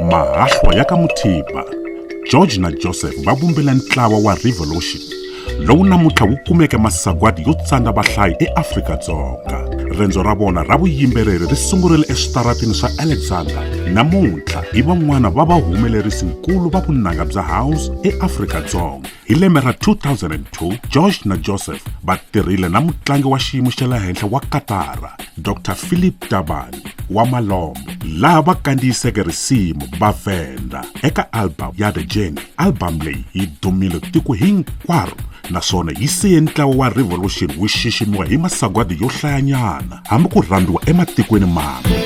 mahahlwa ya ka muthiba george na joseph va vumbile ntlawa wa revolution lowu namuntlha wu kumeke masagwadi yo tsandza vahlayi eafrika-dzonga rendzo ra vona ra vuyimbeleri ri sungurile eswitaratini swa alexander namuntlha hi van'wana va vahumelerisi nkulu va vunanga bya house eafrika-dzonga Hi lembe ra 2002, Josh na Joseph va tirhile na mutlangi wa xiyimo xa le henhla wa Katara, Dr Philip Tabani wa Malombo, laha va kandziyiseke risimu va Venda eka album ya The Journey. Album leyi yi dumile tiko hinkwaro naswona yi siye ntlawa wa Revolution wu xiximiwa hi masagwadi yo hlayanyana. hambi ku rhambiwa ematikweni mambe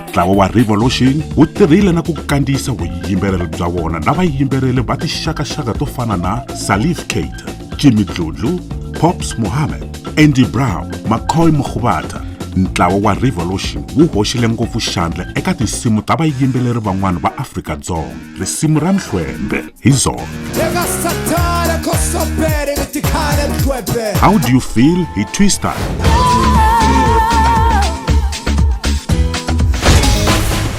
ntlawa wa revolution wu tirhile na ku kandziyisa vuyimbeleri bya vona na vayimbeleri va tixakaxaka to fana na salif cater jimmy dludlu pops mohammed Andy Brown, McCoy Mokgubata, ntlawa wa Revolution wu hoxile ngopfu xandla eka tinsimu ta vayimbeleri van'wana va Afrika-Dzonga. Risimu ra Mhlwembe hi zona. How do you feel hi Twister?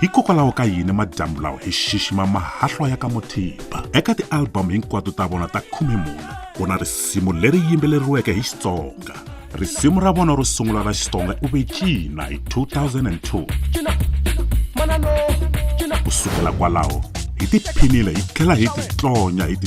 hikokwalaho ka yini madyambu lawa hi xixima mahahlwa ya ka muthiba eka tialbamu hinkwato ta vona ta khume mune ku na risimu leri yimbeleriweke hi xitsonga risimu ra vona ro sungula ra xitsonga u ve cina hi 2002 ku sukela kwalaho hi tiphinile hi tlhela hi titlonya hi ti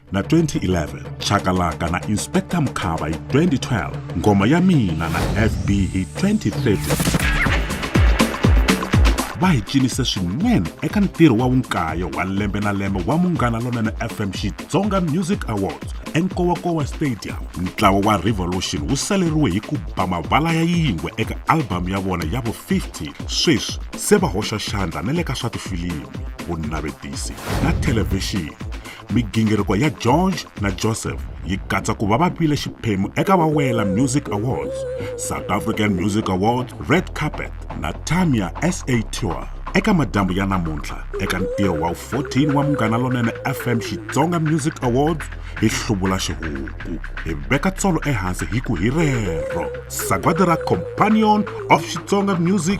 na 2011 chakalaka na inspector mkhava hi 2012 ngoma ya mina na fb hi 2013 va hi cinise swinene eka ntirho wa vunkayo wa lembe na lembe wa munghana lonene fm xitsonga music awards enkowakowa stadium ntlawa wa revolution wu saleriwe hi ku ba mavala ya yingwe eka albhamu ya vona ya vu-50 sweswi se va hoxa xandla na le ka swa tifilimu vunavetisi na thelevhixini Migingiriko ya George na Joseph yi katsa ku va va vile xiphemu eka Vawela Music Awards, South African Music Awards, Red Carpet na Tamia SA Tour. Eka madyambu ya namuntlha, eka ntirho wa 14 wa Munghana Lonene FM Xitsonga Music Awards, hi hluvula xihuku, hi veka tsolo ehansi hi ku hi rero Sagwadi ra Companion of Xitsonga Music